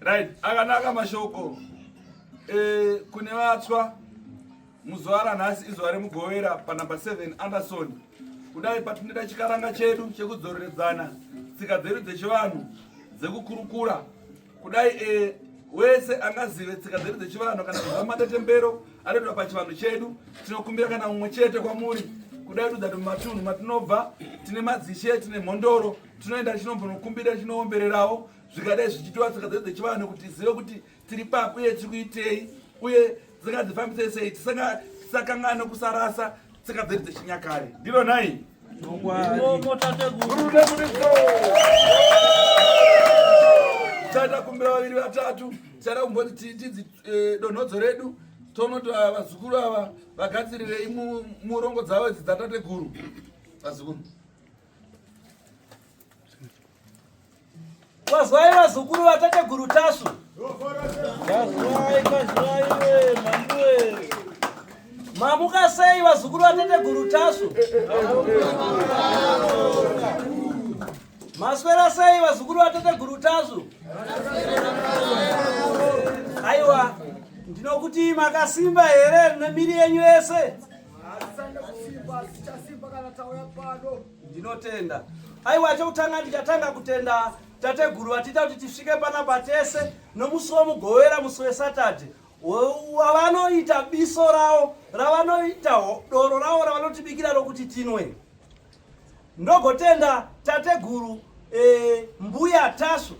right akanaka mashoko e, kune vatswa muzuva ranhasi izuva remugovera panumber 7 anderson kudai patinoita chikaranga chedu chekudzoreredzana tsika dzedu dzechivanhu dzekukurukura kudai e, wese angazive tsika dzedu dzechivanhu kana kuziva matetembero anoitwa pachivanhu chedu tinokumbira kana mumwe chete kwamuri kudai tudza ti mumatunhu matinobva tine madzishe tine mhondoro tinoenda tichinombonokumbira tichinoombererawo zvikadai zvichitiwa tsika dzedu dzechivanhu kuti tizive kuti tiri papi uye tiri kuitei uye dzingadzifambise sei tisakangano kusarasa tsika dzedu dzechinyakare ndiro nhai tichaita kumbira vaviri vatatu tichaita kumboti tidzi eh, donhodzo redu tonoti ah, vazukuru ava vagadzirirei murongo dzavo idzi dzatateguru vazukuru Wazwai vazukuru vatateguru Tasvu. Wazwai, wazwai we mambuwe. Mamuka sei vazukuru vatateguru Tasvu? Maswera sei vazukuru vatateguru Tasvu? Aiwa, ndinokuti makasimba here nemiri yenyu yese? Ndinotenda. Aiwa chokutanga ndichatanga kutenda tateguru vatiita kuti tisvike panapa tese nomusi womugovera musi weSaturday wavanoita biso ravo ravanoita doro ravo ravanotibikira rokuti tinwe. Ndogotenda tateguru e, mbuya Tasvu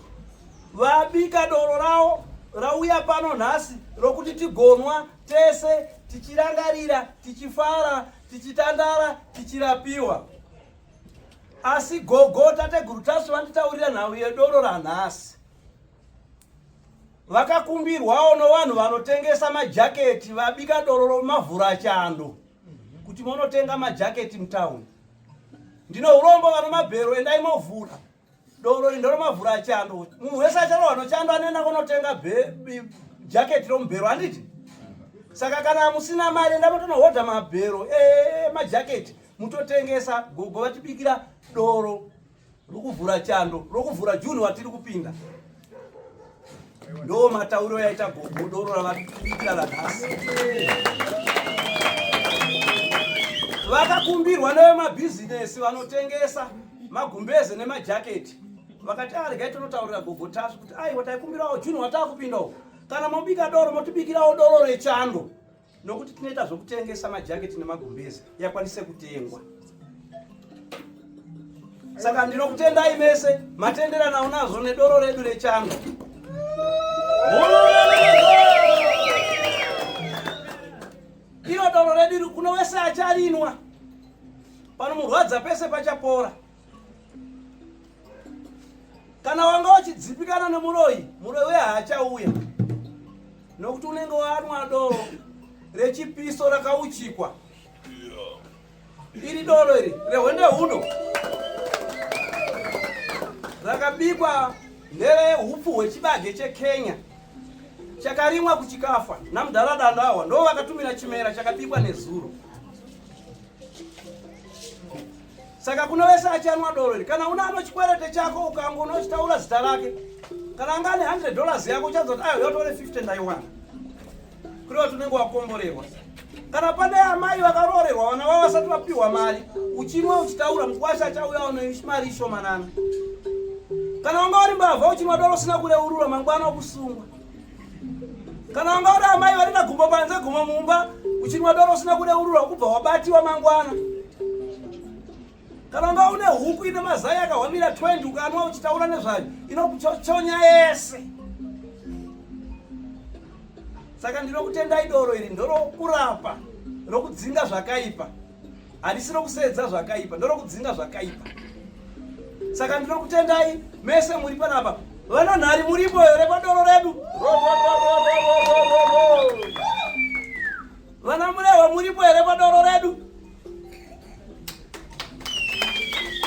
vabika doro ravo rauya pano nhasi rokuti tigonwa tese tichirangarira tichifara tichitandara tichirapiwa asi gogo tateguru tasvu vanditaurira nhau yedoro ranhasi vakakumbirwawo novanhu vanotengesa majaketi vabika doro romavhura chando kuti monotenga majaketi mutauni ndino urombo vana mabhero endai movhura doro iri ndoromavhura achando munhu wese acharohwa nochando anoenda kunotenga jaketi romubhero handiti saka kana musina mari enda motonohodha mabhero emajaketi mutotengesa gogo vatibikira doro rokuvhura chando rokuvhura juni watiri kupinda Ndo matauro yaita gogo doro ravari kuita ranhasi. Vakakumbirwa nevemabhizinesi vanotengesa magumbeze nemajaketi vakati aregai ah, tonotaurira gogo tasvu kuti aiwa taikumbirawo juni watakupindawo kana mobika doro motibikirawo doro rechando nokuti tinoita zvokutengesa majaketi nemagumbezi yakwanise kutengwa saka ndinokutendai mese matenderanawo nazvo nedoro redu rechando iro doro redu kuno wese acharinwa panomurwadza pese pachapora kana wanga wachidzipikana nemuroyi muroyi uye haachauya nokuti unenge wanwa doro rechipiso rakauchikwa iri doro iri rehwende huno rakabikwa nerehupfu hwechibage chekenya chakarimwa kuchikafa namudhara dando awa ndo vakatumira chimera chakabikwa nezuro Saka kuno wese achanwa doro iri. Kana una ano chikwerete chako ukango unochitaura zita rake. Kana anga ane 100 dollars yako uchanzwa kuti ayo yotore 50 ndaiwana. Kuri wati unenge wakomborerwa. Kana pane amai vakaroorerwa vana vavo vasati vapiwa mari, uchinwa uchitaura mukwasha achauya ono mari ishomanana. Kana wanga uri mbavha uchinwa doro usina kureurura mangwana okusungwa. kana wanga uri amai vari na gumbo panze gumbo mumba uchinwa doro usina kureurura kubva wabatiwa mangwana kana wanga une huku ine mazai akahwamira 20 ukanwa uchitaura nezvayo inokuchochonya yese saka ndinokutendai doro iri ndorokurapa rokudzinga zvakaipa handisi rokuseedza zvakaipa ndorokudzinga zvakaipa saka ndinokutendai mese muri panapa vana nhari muripo here padoro redu vana murehwa muripo here padoro redu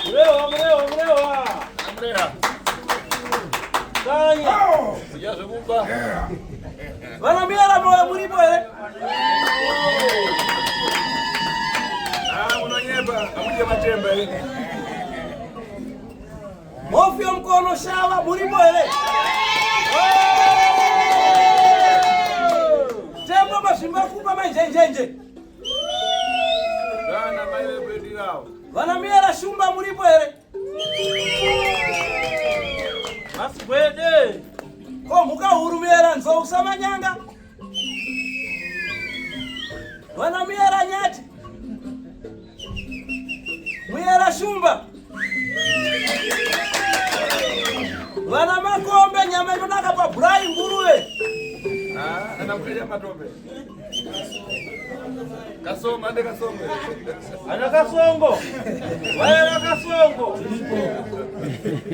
murehwa murehwa murehwa tanya kudya zvekuba Vanamira Ramoyo muripo here? Ah, munonyeba, hamuje matemba here? Mofio mkono shava muripo here? Tembo mazvimba kupa manjenjenje. Vana mai vekwedu avo. Vanamira Shumba muripo here? Masibwede. Ko mhuka huru muyera nzou usamanyanga. Vana muyera nyati. Muyera shumba. Vana makombe nyama inonaka paburayi nguruve. Ah, ana muyera matombe. Kasongo ande kasongo. Ana kasongo. Waya na kasongo.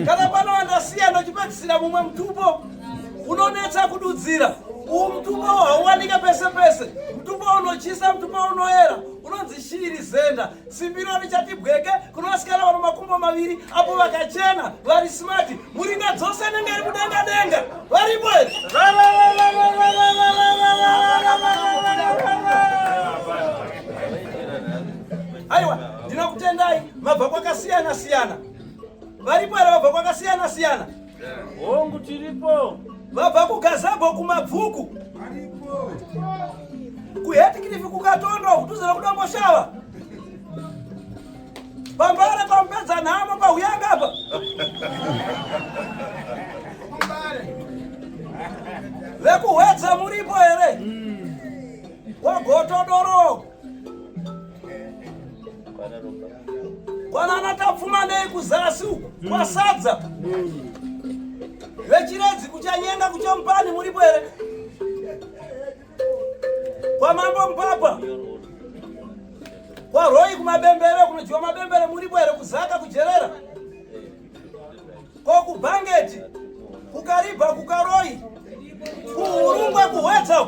Kana pano andasiya ndochipedzisira mumwe mutupo unonetsa kududzira. Uwu mutupo hauwanike pese pese. Mutupo unochisa, mutupo unoera, unonzi shiri zenda. Simbiro richati bweke kuna vasikana vano makumbo maviri apo vakachena vari smart muringa dzose anenge ari kudenga denga varipo aiwa ndinokutendai mabva kwakasiyana siyana varipo here vabva kwakasiyana siyana Hongu tiripo. Vabva kuGazebo kumabvuku. Aripo. Kuhetikirifi kukatondo kudhuze nokudomboshava. Pambare pamupedza nhamo pahuyanga apa. Vekuhwedza muripo here? Wagotodoro. kwanana tapfumanei kuzasi uku kwasadza vechiredzi kuchanyenga kuchompani muripo here kwamambo mpapa kwaroi kumabembere kunodyiwa mabembere muripo here kuzaka kujerera kokubhangeti kukaribha kukaroi kuhurungwe kuhwetsa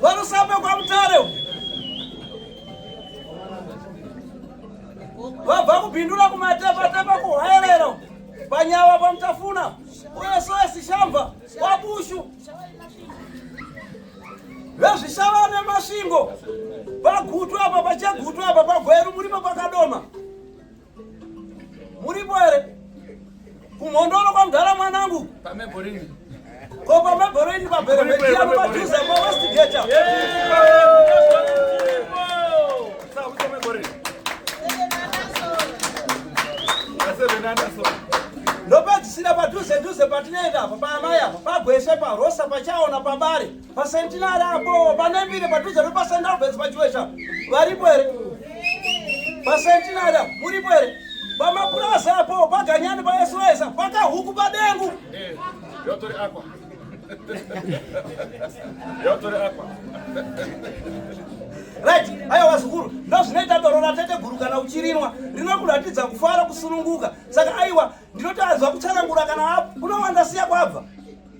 Varusambe kwa Mutare vabva kubhindura kumatepatepa kuhwerero panyawa pamutafuna uye soesi shamba kwabushu vezvishava nemasvingo pagutu apa pachegutu apa pagweru muripo pakadoma Muripo here? Kumhondoro kwa mdara mwanangu. Pame borini. Ko pame borini pa bere media no matuza kwa west gate. Sawa pame borini. Ndopedzisira padhuze dhuze patinoenda apa pa amai apa pagwese pa rosa pachaona pabare. Pasentinari apo pane mbiri padhuze nepaSt Alberts paChiwesha varipo here? Pasentinari apo muripo here? Pamapurazi apo paganyani paSOS pakahuku padengu. Eh, yotori apa. Yotori apa. Right, haya wazukuru, ndozvinoita doro ratete guru kana uchirinwa rinokuratidza kufara kusununguka. Saka aiwa ndinotanzwa kutsanangura kana apo unowanda siya kwabva.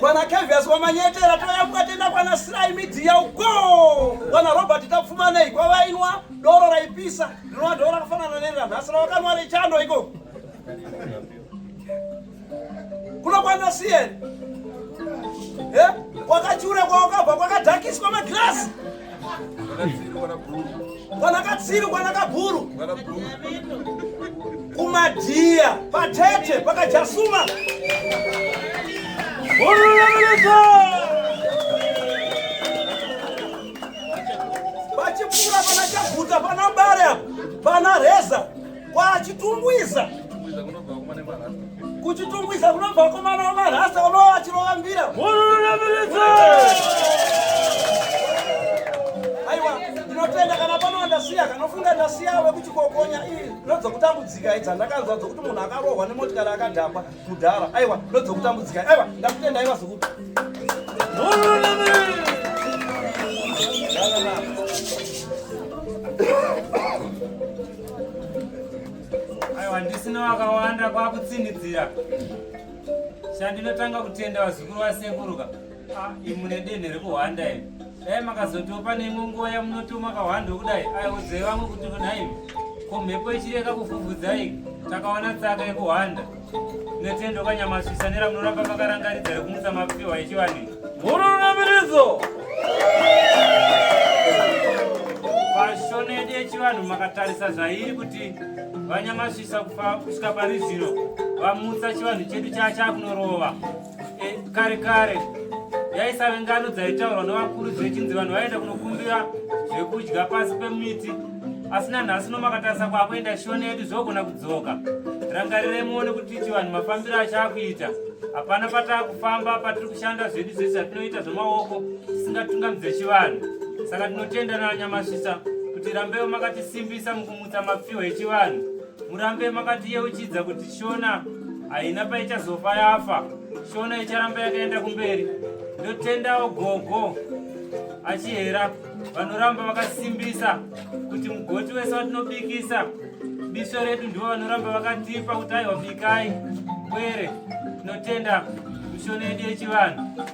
kwana kevias wamanyetera toya kukatenda kwana sirai midhiya uko kwana robert tapfumanei kwavainwa doro raipisa ndinova doro rakafanana neri ranhasi ravakanwa rechando iko kuno kwana sieri eh? kwakachure kwawakabva kwakadhakiswa magirasi Vanakatsiru vanakabhuru kumadhiya patete pakajasuma Hururamidzo vachipfuura pana chaguta pana bare apa pana reza kwachitungwiza kuchitungwiza kunobva komana wamarasa unova achirovambira aiwa ndinotenda kana pano ndasiya kanofunga ndasiya wekuchikokonya ii ndodzokutambudzika idza ndakanzwa dzokuti munhu akarohwa nemotikari akadhakwa mudhara aiwa ndodzokutambudzika aiwa ndakutenda aiwa zokuti aiwa handisina wakawanda kwakutsinidzira chandinotanga kutenda vazukuru vasekuruka ah, imune denhe rekuhwanda imi dai makazotopa neimwe nguva yamunoti makahwanda okudai aiudzai vamwe kuti nhaimi ko mhepo ichireka kufufudzai takawana tsaka yekuhwanda Netendo kanyamasvisa nera munoramba makarangaridza rekumutsa mapiwa echivanhu. Murunamiridzo. Pashonedi yechivanhu makatarisa zvairi kuti vanyamasvisa kufa kusvika pari zvino vamutsa chivanhu chedu chachakunorova. Eh, kare kare yaisave ngano dzaitaurwa nevakuru dzechinzi vanhu vaienda kunokumbira zvekudya pasi pemiti asi nanhasi nomakatarisa kwakuenda shona yedu zvogona kudzoka rangarirei muone kuti chivanhu mafambiro achaakuita hapana pataa kufamba patiri kushanda zvedu zvese zvatinoita zvemaoko tisingatungamidze chivanhu saka tinotenda nanyamasvisa kuti rambeo makatisimbisa mukumutsa mapfiwa echivanhu Murambe makatiyeuchidza kuti Shona haina paichazofa yafa. Shona icharamba yakaenda kumberi. Ndotendawo gogo achihera vanoramba vakasimbisa kuti mugoti wese watinobikisa bisho redu ndivo vanoramba vakatipa kuti aiwa bikai kwere tinotenda mishoni yedu yechivanhu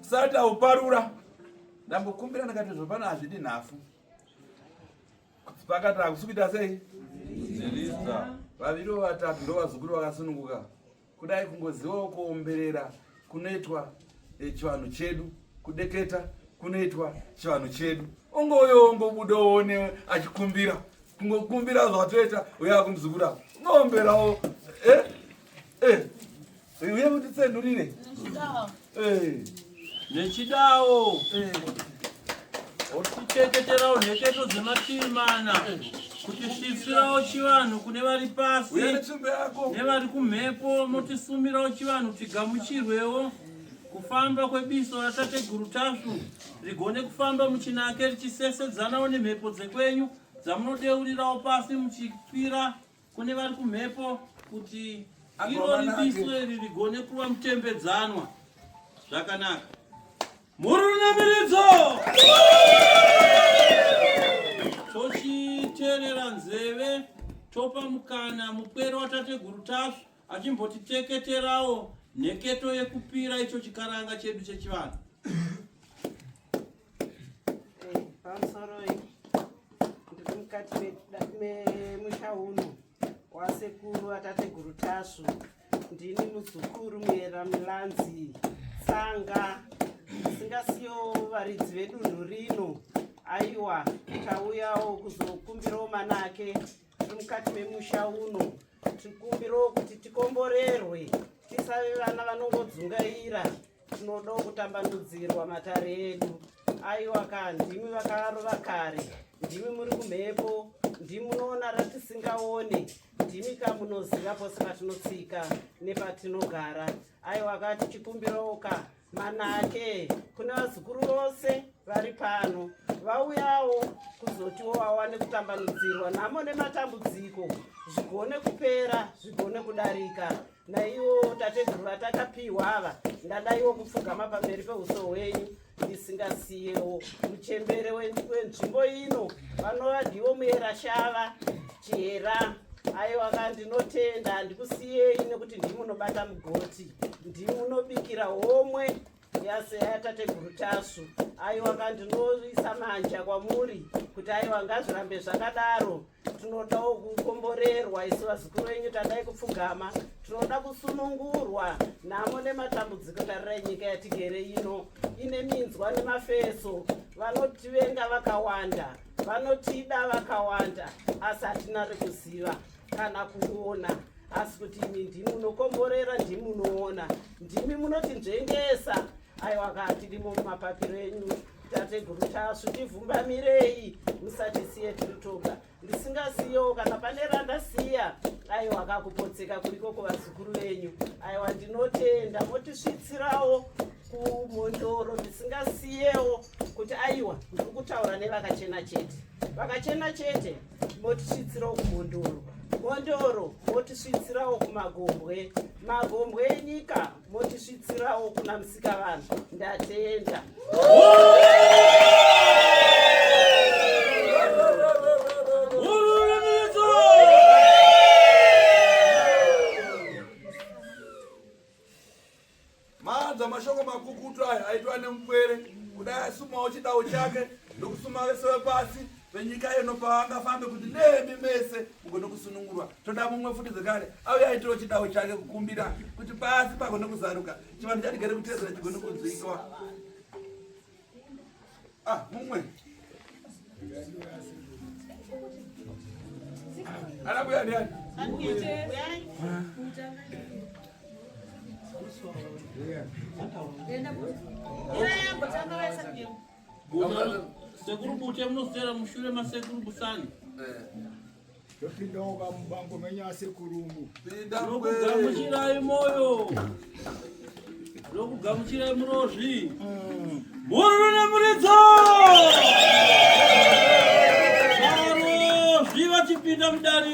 sati auparura ndambokumbira ndakati zvopano hazvidi nhafu pakati hakusi kuita sei vaviri vatatu ndovazukuru vakasununguka kudai kungozivawo kuomberera kunoitwa eh, chivanhu chedu kudeketa kunoitwa chivanhu chedu ungouyo ungobuda uone achikumbira kungokumbira zvatoita uya kumzukura unomberawo eh? Eh, uye mutitsenurire eh. nechidawo eh. oticheketerawo nheketo dzemativi mana kuti svisirawo chivanhu kune vari pasi nevari kumhepo motisumirawo chivanhu tigamuchirwewo kufamba kwebiso ratateguru tasvu rigone kufamba muchinake richisesedzanawo nemhepo dzekwenyu dzamunodeurirawo pasi muchikwira Kune vari kumhepo kuti iro ripiswe ririgone kuva mutembedzanwa zvakanaka. Murunamiridzo! Tochiterera nzeve topa mukana mupwere watateguru tasvu achimbotiteketerawo nheketo yekupira icho chikaranga chedu chechivanhu. pamusoroi ndiri mukati memusha uno wasekuru atateguru tasvu ndini muzukuru muyera milanzi tsanga singasiyo varidzi vedunhu rino aiwa tauyawo kuzokumbirawo mana ake tiri mukati memusha uno tikumbirawo kuti tikomborerwe tisave vana vanongodzungaira tinodawo kutambanudzirwa matare edu aiwa ka ndimi vakarova kare ndimi muri kumhepo ndimi munoona ratisingaone ndimi ka munoziva pose patinotsika nepatinogara aiwa ka tichikumbirawo ka manake kune vazukuru vose vari pano vauyawo kuzotiwo vawane kutambanudzirwa nhamo nematambudziko zvigone kupera zvigone kudarika naiwo tateguru vatakapiwa ava ndadaiwo kupfugama pamberi peuso hwenyu ndisingasiyewo muchembere wenzvimbo ino vanova ndivo muyera shava chihera aiwaka ndinotenda handikusiyei nekuti ndimunobata mugoti ndimunobikira homwe yase yatateguru tasvu aiwaka ndinoisa manja kwamuri kuti aiwa ngazvirambe zvakadaro tinodawo kukomborerwa isu vazukuru venyu tadai kupfugama tinoda kusunungurwa nhamo nematambudziko tarirai nyika yatigere ino ine minzwa nemafeso vanotivenga vakawanda vanotida vakawanda asi hatina rekuziva kana kuona asi kuti imi ndimi munokomborera ndimi munoona ndimi munoti nzvengesa aiwa kaa tirimo mumapapiro enyu tateguru tasvu tivhumbamirei musatisiye tiri toga ndisingasiyewo kana pane randasiya aiwa kakupotseka kuriko kuvazukuru venyu aiwa ndinotenda motisvitsirawo kumhondoro ndisingasiyewo kuti aiwa ndiri kutaura nevakachena chete vakachena chete motisvitsirawo kumhondoro mhondoro motisvitsirawo kumagombwe magombwe enyika motisvitsirawo kuna musika vanhu ndatenda maanza mashoko makukutu aya aitwa nemupwere kudai asumawo chidawo chake ndokusuma vese vepasi venyika yeno pavangafambe kuti nemi mese mugone kusunungurwa toda mumwe futi zvekare auya aitiro chidawo chake kukumbira kuti pasi pagone kuzaruka chivanhu chatigere kutedzera chigone kunzwikwa ah mumwe anabuya ndiani Yeah. Sekuru Bute munoswera mushure masekuru Busani. Ndopindawo kamubango menyu asekurungu. Ndokugamuchirai moyo. Ndokugamuchirai murozvi. Mururu mm. nemuridzo! Varozvi vachipinda mudari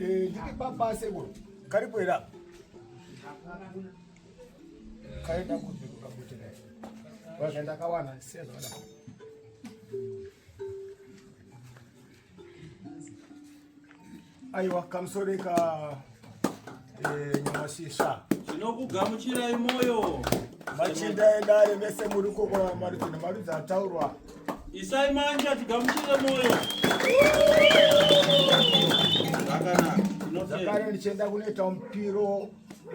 Eh, ndiri baba sekuru karibu here apa kaenda kupi kukakuti naye vazve ndakawana sezvada aiwa kamusori ka eh, nyamashisha tinokugamuchirai moyo machinda edare vese muri kokora marudzi nemarudzi ataurwa isai manja tigamuchire moyo zvakare ndichienda kunoita mupiro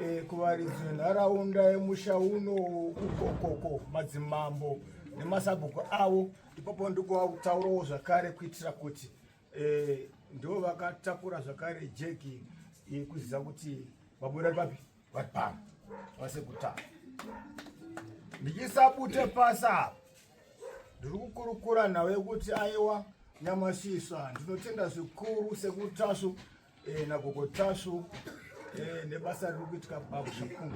eh, kuvaridzi venharaunda yemusha uno ukokoko madzimambo nemasabhuku avo ipapo ndikuvautaurawo zvakare kuitira kuti eh, ndivo vakatakura zvakare jeki eh, kuziva kuti vabuda papi Vatano vase kutanga ndichisabute pasi apa ndiri kukurukura nhau yekuti aiwa nyamashiswa ndinotenda zvikuru sekutasvu eh, nagogo tasvu eh, nebasa riri kuitika babu zvikuru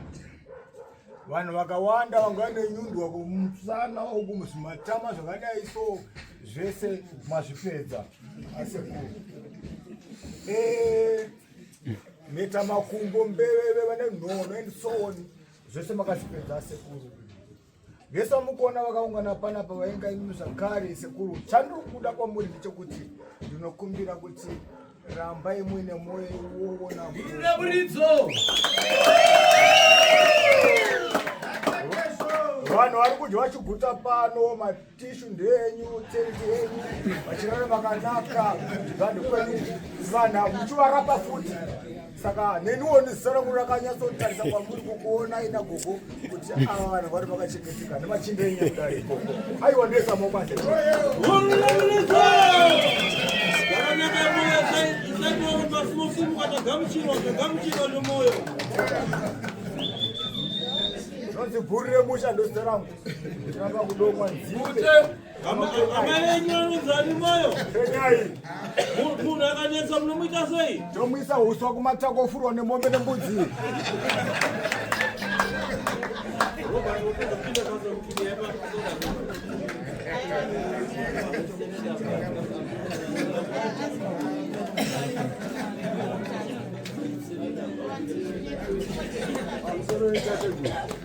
vanhu vakawanda vanga vane nyundwa kumusana uku muzvimatama zvakadai so zvese mazvipedza asekuru eh, mheta makumbo mbeveve vane nhono and so on zvese makazvipedza asekuru vese vamukuona vakaungana panapa vainga imimi zvakare sekuru chandiri kuda kwamuri ndechekuti ndinokumbira kuti rambai muine mwoyo iwoona muridzo vanhu vari kudya chiguta pano tishu ndeyenyu tenti yenyu vachirara makanaka vanhu kwenyu vanhu muchivarapa futi saka neniwo nezisara kuti rakanyatsotarisa kwamuri kukuona ina gogo kuti ava vanhu vari vakachengeteka nemachinde enyu kudari ikoko aiwa ndesa mobasa zvanzi bhuri remusha ndozita rangu munhu akanetsa munomuita sei tomuisa uswa kumatako ofurwa nemombe nembudzi Thank you.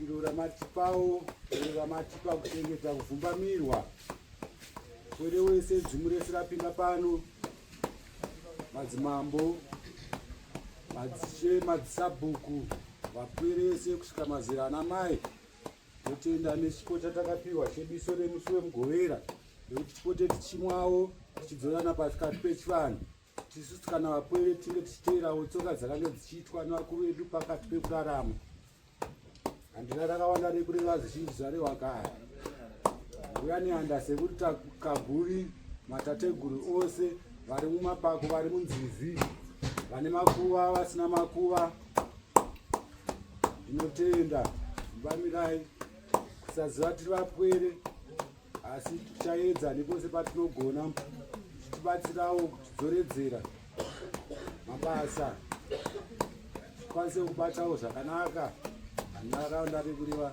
Ndiro ramatipawo ndiro ramatipa kuchengeta kuvhumbamirwa kwere wese dzimu rese rapinda pano madzimambo madzishe madzisabhuku vapwere vese kusvika mazera ana mai totenda nechipo chatakapiwa chebiso remusi wemugovera nekuti tipote tichimwawo tichidzorana pasikati pechivanhu tisu kana vapwere tinge tichiteerawo tsoka dzakange dzichiitwa nevakuru vedu pakati pekurarama handina rakawanda rekureva zvizhinji zvarewa kaya uya neanda sekuti takaguri matateguru ose vari mumapako vari munzizi vane makuva vasina makuva ndinotenda mbamirai kusaziva tiri vapwere asi tichaedza nepose patinogona tibatsirawo kutidzoredzera mabasa tikwanise kubatawo zvakanaka nharaunda rekuriva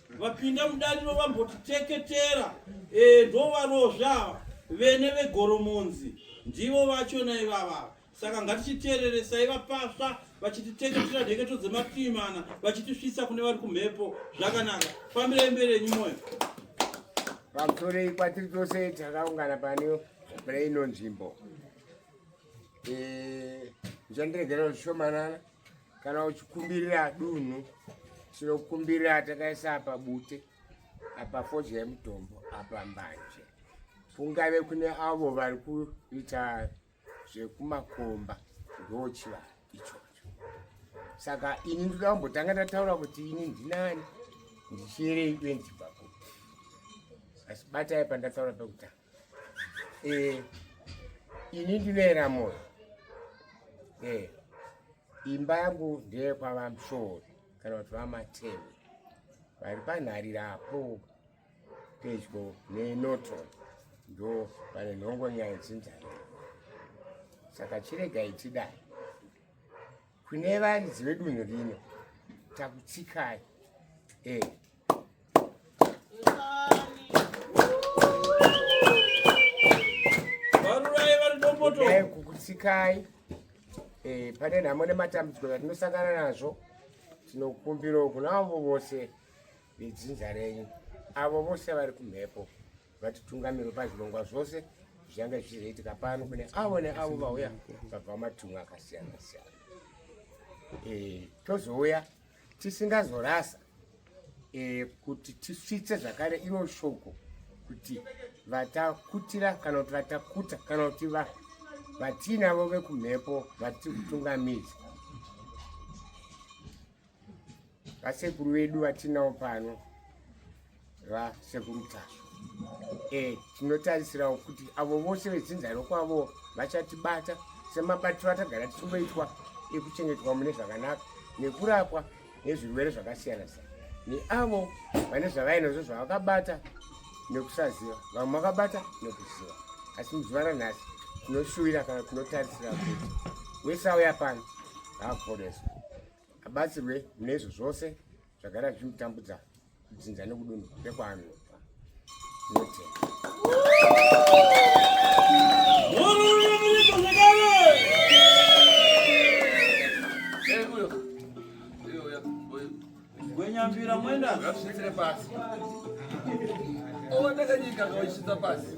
vapinda mudariro vambotiteketera e, ndovarozvi ava vene vegoromonzi ndivo vachona ivavava saka ngatichiteereresai vapasva vachititeketera nheketo dzematiimana vachitisvitsa kune vari kumhepo zvakanaka fambirai mberi enyu mwoyo pamusorei kwatiri tose takaungana pane pane ino nzvimbo zvandiregerao zvishomanana kana uchikumbirira dunhu tinokumbirira takaisa apa bute apa fodya yemutombo apa mbanje kungave kune avo vari kuita zvekumakomba ndochiva ichocho saka ini ndoda kumbotanga ndataura kuti ini ndinani ndichierei uye ndibva kupi asi batai pandataura pekutanga eh, ini ndinoera moyo eh, imba yangu ndeye kwavamshori kana kuti vamatewe vari panharira apo pedyo nenoton ndo pane nhongo nyaya dzinzari saka chiregai tidai Kune varidzi vedunhu rino takutsikai eh. Dai kukutsikai eh, pane nhamo nematambudziko zvatinosangana nazvo tinokumbirawo kuna avo vose vedzinza renyu avo vose vari kumhepo vatitungamiri pazvirongwa zvose zvichange zvichizoitika pano kune avo neavo vauya vabva matunhu akasiyana siyana e, tozouya tisingazorasa e, kuti tisvitse zvakare iro shoko kuti vatakutira kana kuti vatakuta kana kuti vatiinavo vekumhepo vatiri kutungamidza vasekuru vedu vatinawo pano vasekuru tasvu e tinotarisirawo kuti avo vose vedzinza rokwavo vachatibata semabatiro atagara tichingoitwa ekuchengetwa mune zvakanaka nekurapwa nezvirwere zvakasiyana siyana neavo vane zvavainazvo zvavakabata nekusaziva vamwe vakabata nekuziva asi muzuva ranhasi tinoshuvira kana tinotarisira kuti wese auya pano haaporeswa abatsirwe mune izvo zvose zvagara zvichimutambudza kudzinza nekudunhu rekwaanobva notenda gwenyambira mwenda ngazvisvitsire pasi owatakanyika ngawachitsa pasi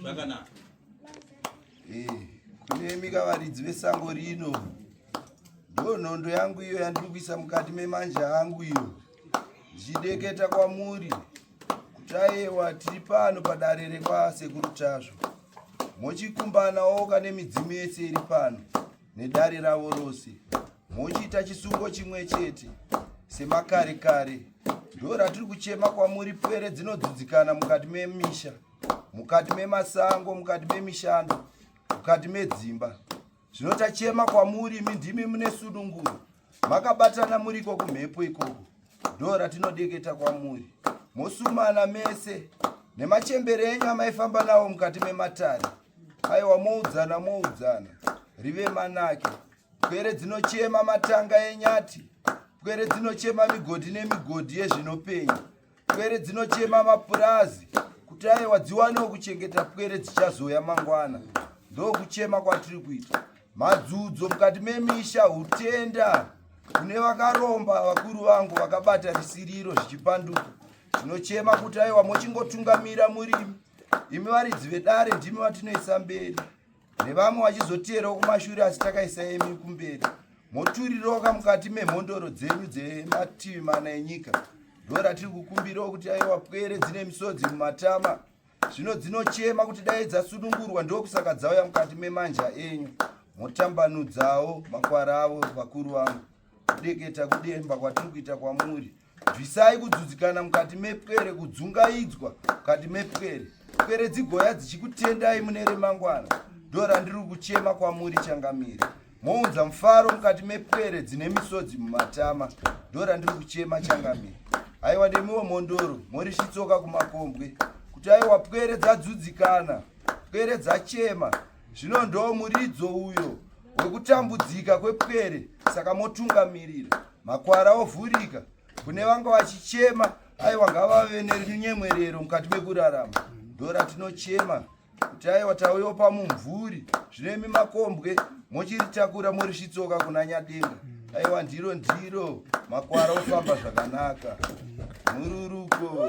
zvakanaka eh, kunemi kavaridzi vesango rino ndo nhondo yangu iyo yandiri kuisa mukati memanja angu iyo ndichideketa kwamuri kutayewa tiri pano padare rekwasekuru tasvo mochikumbanawo kane midzimu yese iri pano nedare ravo rose mochiita chisungo chimwe chete semakare kare ndo ratiri kuchema kwamuri pwere dzinodzudzikana mukati memisha me mukati memasango mukati memishando mukati medzimba zvino tachema kwamuri imi ndimi mune sununguro makabatana muriko kumhepo ikoko ndo ratinodeketa kwamuri mosumana mese nemachembere enyu amaifamba nawo mukati mematare aiwa moudzana moudzana rive manake pwere dzinochema matanga enyati pwere dzinochema migodhi nemigodhi yezvinopenya pwere dzinochema mapurazi kuti aiwa dziwanewo kuchengeta pwere dzichazoya mangwana ndokuchema kwatiri kuita madzudzo mukati memisha hutenda kune vakaromba vakuru vangu vakabata risiriro zvichipanduka tinochema kuti aiwa mochingotungamira murimi imi varidzi vedare ndimi vatinoisa mberi nevamwe vachizoteerawo kumashure asi takaisa emi kumberi moturiroka mukati memhondoro dzenyu dzemativi mana enyika ndo ratiri kukumbirawo kuti aiwa pwere dzine misodzi mumatama zvino dzinochema kuti dai dzasunungurwa ndokusaka dzauya mukati memanja enyu motambanudzawo makwara avo vakuru vangu kudeketa kudemba kwatiri kuita kwamuri bvisai kudzudzikana mukati mepwere kudzungaidzwa mukati mepwere pwere dzigoya dzichikutendai mune remangwana ndo randiri kuchema kwamuri changamire mounza mufaro mukati mepwere dzine misodzi mumatama ndo randiri kuchema changamire aiwa nemiwo mhondoro mori chitsoka kumakombwe kuti aiwa pwere dzadzudzikana pwere dzachema zvino ndo muridzo uyo wekutambudzika kwepwere saka motungamirira makwara ovhurika kune vanga vachichema aiwa ngavave nenyemwerero mukati mekurarama ndora tinochema kuti aiwa tauyopa mumvuri zvino imi makombwe mochiritakura morisvitsoka kuna nyadenga aiwa ndiro ndiro makwara ofamba zvakanaka mururuko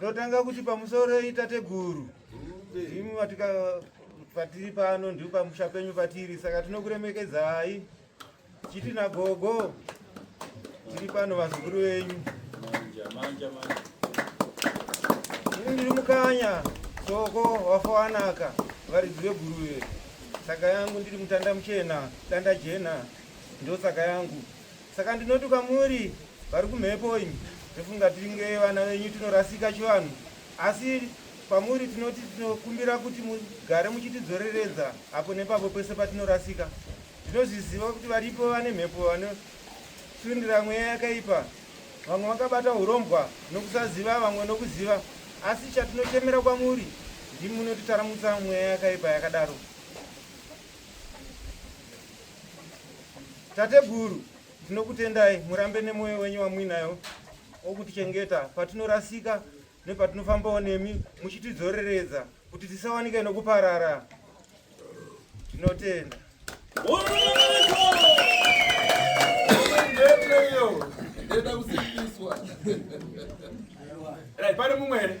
Totanga kuti pamusoro itateguru imi watika patiri pano ndipo pamusha penyu patiri saka tinokuremekedzai chiti nagogo tiri pano vazukuru venyu ini ndiri mukanya soko wafowanaka varidzi veguruve saka yangu ndiri mutanda muchena danda jena ndosaka yangu Saka ndinoti kwamuri vari kumhepo imi, tofunga tinge vana venyu tinorasika chivanhu, asi kwamuri tinoti tinokumbira kuti mugare muchitidzoreredza apo nepapo pese patinorasika. Tinozviziva kuti varipo vane mhepo vanosundira mweya yakaipa, vamwe vakabata urombwa nokusaziva, vamwe nokuziva, asi chatinochemera kwamuri ndimunotitaramutsa mweya yakaipa yakadaro. Tateguru, tinokutendai murambe nemwoyo wenyu wamuinayo wokutichengeta patinorasika nepatinofambawo nemi muchitidzoreredza kuti tisawanike nokuparara. Tinotenda. Pane mumwe here?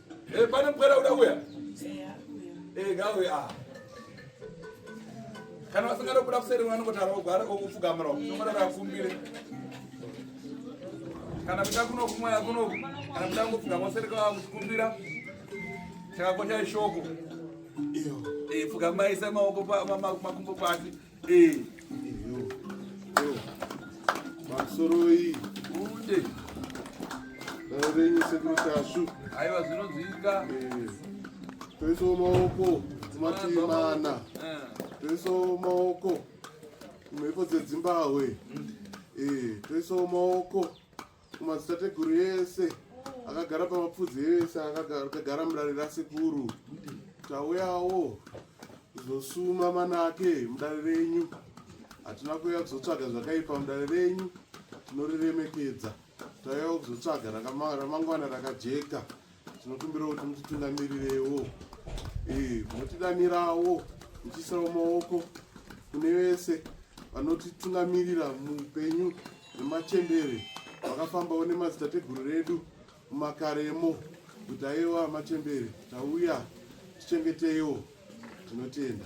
Eh, pane mupwera uda kuya eh, eh, gawe a ah. kana vasingada kubuda kuseri vanongotara ogwara okupfugamira onoda vakumbire kana kuda kunokumwaya kunoku kana kuda kungopfugama useri kwakukumbira chakakosha ishoko pfugamai semaoko makumbo pasi Masoroi. Kunde. Renyi sekuru tashu. Aiwa zvinonzwika. Toisawo maoko kumativi mana. Toisawo maoko kumhepo dzedzimbahwe. Toisawo maoko kumadzitateguru yese akagara pamapfudzi yese akagara mudare rasekuru tauyawo kuzosuma manake mudare renyu hatina kuuya kuzotsvaga zvakaipa mudare renyu tinoriremekedza tauyawo kuzotsvaga ramangwana rakajeka Tinokumbira kuti mutitungamirirewo, eh, motidanirawo muchiisawo maoko kune vese vanotitungamirira muupenyu nemachembere vakafambawo nemadzitateguru redu mumakaremo kuti aiwa machembere tauya tichengeteiwo tinotenda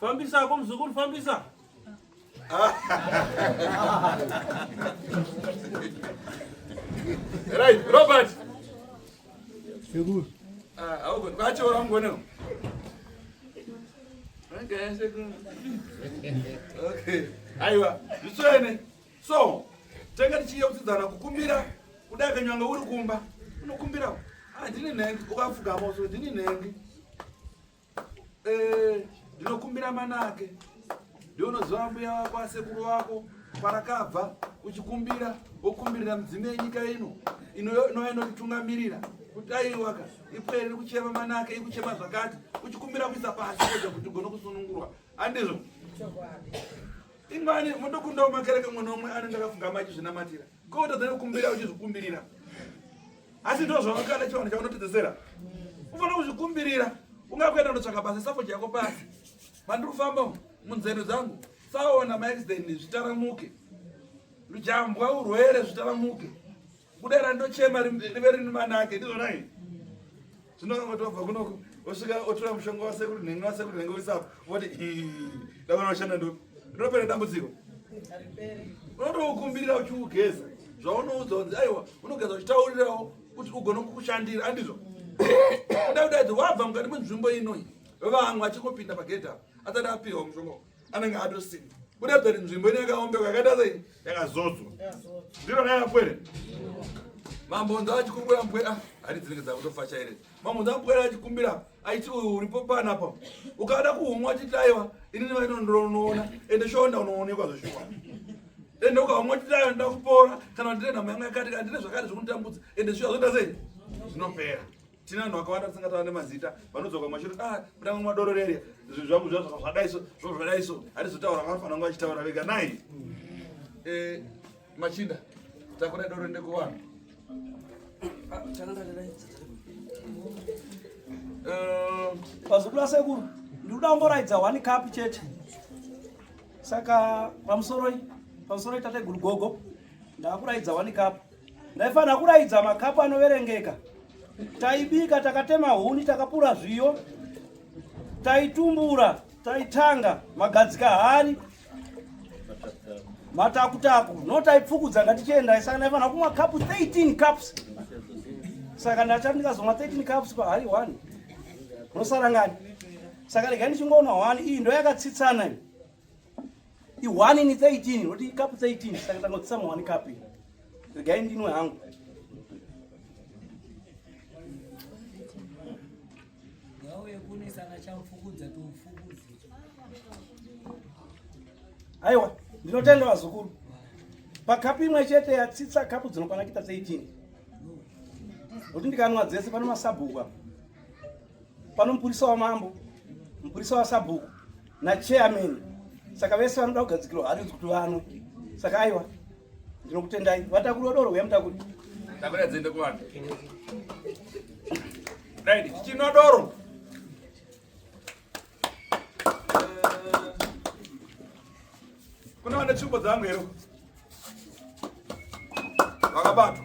Fambisa hako mzukuru, fambisa. Right, Robert. Sekuru. Ah, au kwa kwacho wangu Okay, sekuru. Okay. Aiwa, zviswene. So, tanga tichiye kutsidzana kukumbira kudai kanyanga uri kumba unokumbirawo handini ah, nhengi ukafugama uso ndini nhengi Eh, ndinokumbira manake ndionoziva mbuya wako asekuru wako kwarakabva uchikumbira wokumbirira mudzimu yenyika ino inova inotitungamirira kuti aiwaka ipwere iri kuchema manake ikuchema zvakati uchikumbira kuisa pasi kuedza kuti ugone kusunungurwa andizvo ingani motokundawo makereke mwana omwe anenge akafunga machizvinamatira Ko utadza kukumbira uchizvikumbirira. Asi ndizvo zvawakada chivanhu chaunotedzesera. Ufanira kuzvikumbirira. Ungakuenda kunotsvaka basa safoti yako pasi. Mandiri kufamba munzendo dzangu. Saona maaccident zvitaramuke. Lujambwa urwere zvitaramuke. Kudera ndochema rive rine manake. Ndizvo nai. zvino vanoti wabva kunoku osvika otora mushonga wasekuru nhenga wasekuru nhenga oisapo voti ndavana vashanda ndo rinopera dambudziko unotoukumbirira uchiugeza zvaunoudzwa kunzi aiwa unogeza uchitaurirawo kuti ugone kukushandira andizvo kuda kudaidzi wabva mukati mwenzvimbo inoi vamwe achingopinda pagedha asati apiwa mushonga anenge atosina kuratidza kuti nzvimbo ine yakaombeka yakaita sei yakazodzwa ndiro raiva pwere mambonza achikumbira mpwere ah, hari dzinenge dzakutofacha here mambonza mpwere achikumbira aiti uyu uripo panapa ukada kuhumwa achiti aiwa inini vainondironoona ende shonda unoonekwa zveshuwa ende ukahumwa achiti aiwa ndoda kupora kana ndine nhamo yanga yakati kana ndine zvakati zvinotambudza ende shuwa zvoita sei zvinopera tine vanhu vakawanda tisingatava nemazita vanodzoka kumashiro ah mutanga madororere zvinhu zvangu zvazvadaiso zvo zvadaiso hatizotaura vanofanira kunge vachitaura vega nai mm. eh, machinda takuda doro ndekuvanhu ah, eh, pazukula sekuru ndikuda kumboraidza one cup chete saka pamusoroi pamusoroi tateguru gogo ndakuraidza one cup Ndaifanira kuraidza makapu anoverengeka. Taibika, takatema huni, takapura zviyo, taitumbura, taitanga magadzika hari matakutaku no taipfukudza ngatichiendai saka ndaifanira kumwa cup 13 cups saka ndachati ndikazomwa 13 cups pahari 1 nosara ngani saka regai ndichingoona 1 iyi ndo yakatsitsana ihwani ni 13 roti ikapu 13 saka tangotsisa muhwani kapu regai ndinwe hangu aiwa ndinotenda vazukuru pakapu imwe chete yatsitsa kapu dzinokwana kita 13 roti ndikanwa dzese pane masabhuku apa pano mupurisa wamambo mupurisa wasabhuku nachairman saka vese vanoda kugadzikirwa harizi kuti vano saka aiwa ndinokutendai vatakuri vodoro huya mutakuri takuri adziende kuvanhu right tichinwa doro kuna vane tsvimbo dzangu here vakabatwa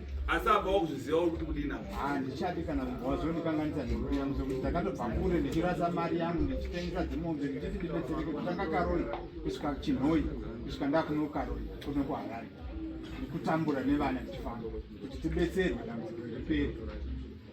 asi apa wakuzviziva uri kuti kudina handichadi kana munhu wazondikanganisa nemhuri yangu sokuti ndakatobva kure ndichirasa mari yangu ndichitengesa dzimombe ndichiti ndibetsereke kutanga karoi kusvika chinhoi kusvika ndakuno karoi kuno kuharare ndikutambura nevana ndichifamba kuti tibetserwe dambudziko riperi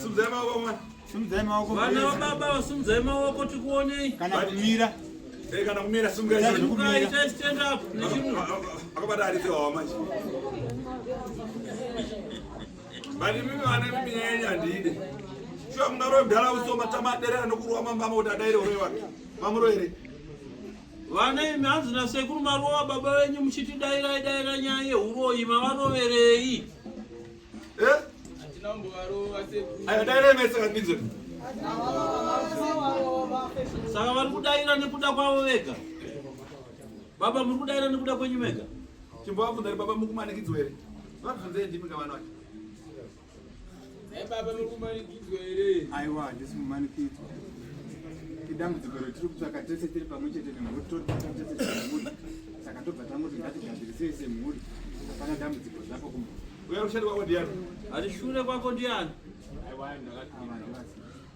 Simdzai maoko mwana. Simdzai maoko. Vana wababa simdzai maoko tikuonei. Kana kumira. Eh kana kumira simdzai. Simdzai tai stand up. Akabata ari tewa manje. Bali mimi vana mimi nyanya ndide. Shuwa mnaro mdala usoma tamadere anokuruwa mambama kuti adaire ure wake. Mamuro here? Vana imi hanzi nasekuru marova baba venyu muchiti dairai daira nyaya yeuroyi mavaroverei eh? saka vari kudaira nekuda kwavo vega baba muri kudaira nekuda kwenyu vega chimbovabvunzari baba mukumanikidzwa here vabvunzei ndimi kavana vacho baba muri kumanikidzwa here aiwa handisi kumanikidzwa idambudziko retiri kutsvaka tese tiri pamwe chete nemhuri totsvaka tese semhuri saka tobva tangoti ngatigadzirisei semhuri hapana dambudziko zvapo kuma uya rushandi wako ndiani arishure kwako ndiani aiwa ndakati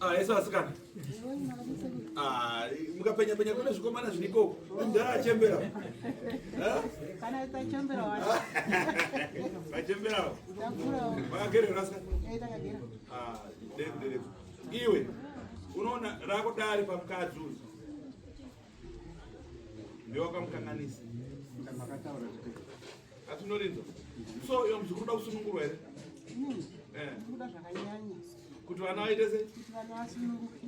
Ah, yesu asikana ah, mukapenya penya kune zvikomana zvinikoko mdhara achembera vachemberawo vakagerera ska iwe unoona rako dare pamukadzi uyu ndiwakamukanganisa Atinorinzwa. So iyo mzukuru da kusunungurwa here? Mm. Eh. Kuda zvakanyanya. Kuti vana vaite sei? Kuti vana vasununguke.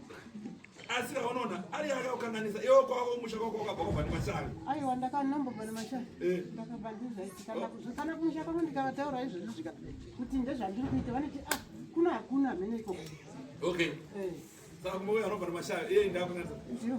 Asi unoona ari akakukanganisa iwe kwako musha kwako wakabva kubva nemashanga. Aiwa ndakanombobva nemashanga. Eh. Ndakabva ndizvaiti kana oh. kana kumusha kwako ndikavataura izvozvo zvika kuti ndezvandiri kuita vanoti ah kuna hakuna mhene ikoko. Okay. Eh. Saka kumboya anobva nemashanga iye ndakukanganisa. Ndiyo.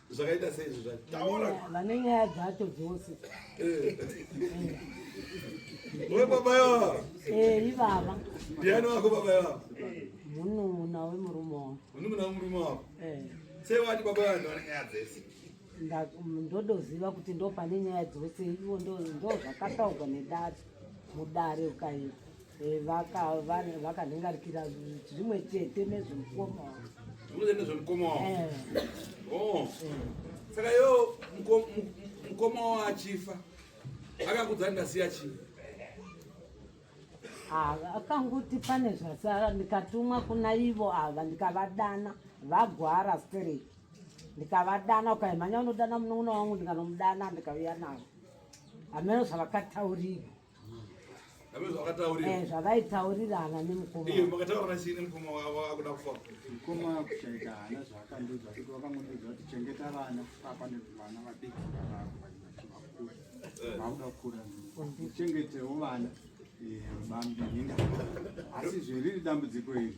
zvakaita sei izvi zvacho taura vane nyaya dzacho dzose eh. we baba yavo eh ivava ndiani wako baba yavo munun'una wemurume wavo munun'una wemurume wavo eh. sei wati baba vanhu vane nyaya dzese ndodoziva kuti ndo pane nyaya dzose ivo ndo zvakataurwa nedare mudare ukaita Eh, vakanhingarikira zvimwe chete nezvemukoma zvimwe chete nezvemukoma wavo eh. oh. eh. saka iyo mukoma wavo achifa akakudza ndasiya chii ah, akanguti pane zvasara ndikatumwa kuna ivo ava ndikavadana vagwara straight ndikavadana ukaimhanya unodana munowona wangu ndikanomudana ndikauya navo hameno zvavakataurira Eh, zvavaitaurirana nemukomamukoma kuchaita hana zvaakandiudza kuti wakangondiudza kuti chengeta vana papa nevana vadiki vakura vakuda kukura uchengetewo vana eh, bambi asi zveriri dambudziko iri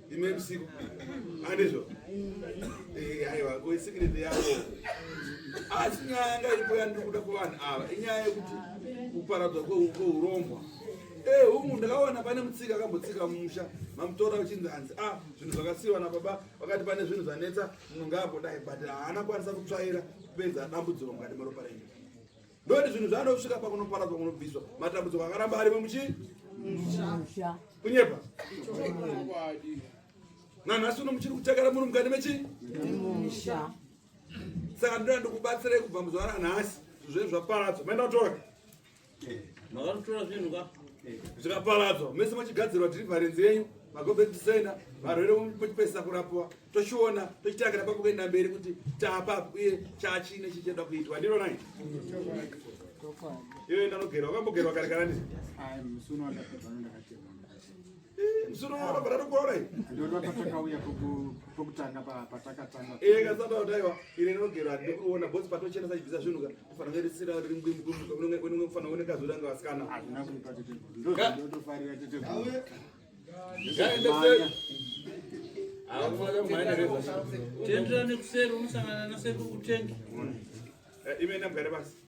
Imwe msiku. Andizvo. Eh, haiwa, ko secret yako. Asi nyaya ngaipo yandikuda kuvanhu ava. Inyaya yekuti kuparadzwa kweurombwa. Eh, humu ndakaona pane mutsika akambotsika mumusha mamutora uchinzi hanzi ah zvinhu zvakasiyiwa nababa vakati pane zvinhu zvanetsa munhu ngaambodai but haana kwanisa kutsvaira kupedza dambudziko mukati meropa renyu Ndokuti zvinhu zvaanoda kusvika pakunoparadzwa kunobviswa matambudziko akaramba arimo muchi kunyepa nanhasi uno muchiri kuchakara munhu mukati mechi saka ndinoda ndikubatsirei kubva muzuva ranhasi zvinhu zvaparadzwa maenda kutora makatotora zvinhu ka zvikaparadzwa mese machigadzirwa dhirivharenzi yenyu magobeti senda varwere muchipesisa kurapiwa tochiona tochitanga napa kuenda mberi kuti tapa uye chachine chichida kuitwa ndiro nai iwe ndanogerwa wakambogerwa kare kana ndii msuno wakabvara tokuona ikasata kutaiwa ine ndinogerwa ndikuona bosi patochena sachibvisa zvinhu ka kufanira kunge risira riri mbwimbukufanira kunge kufanira kuoneka zvoda nga vasikana Tendra nekuseri unosangana nasekuru kutengi. Eh, Imene mgare basi.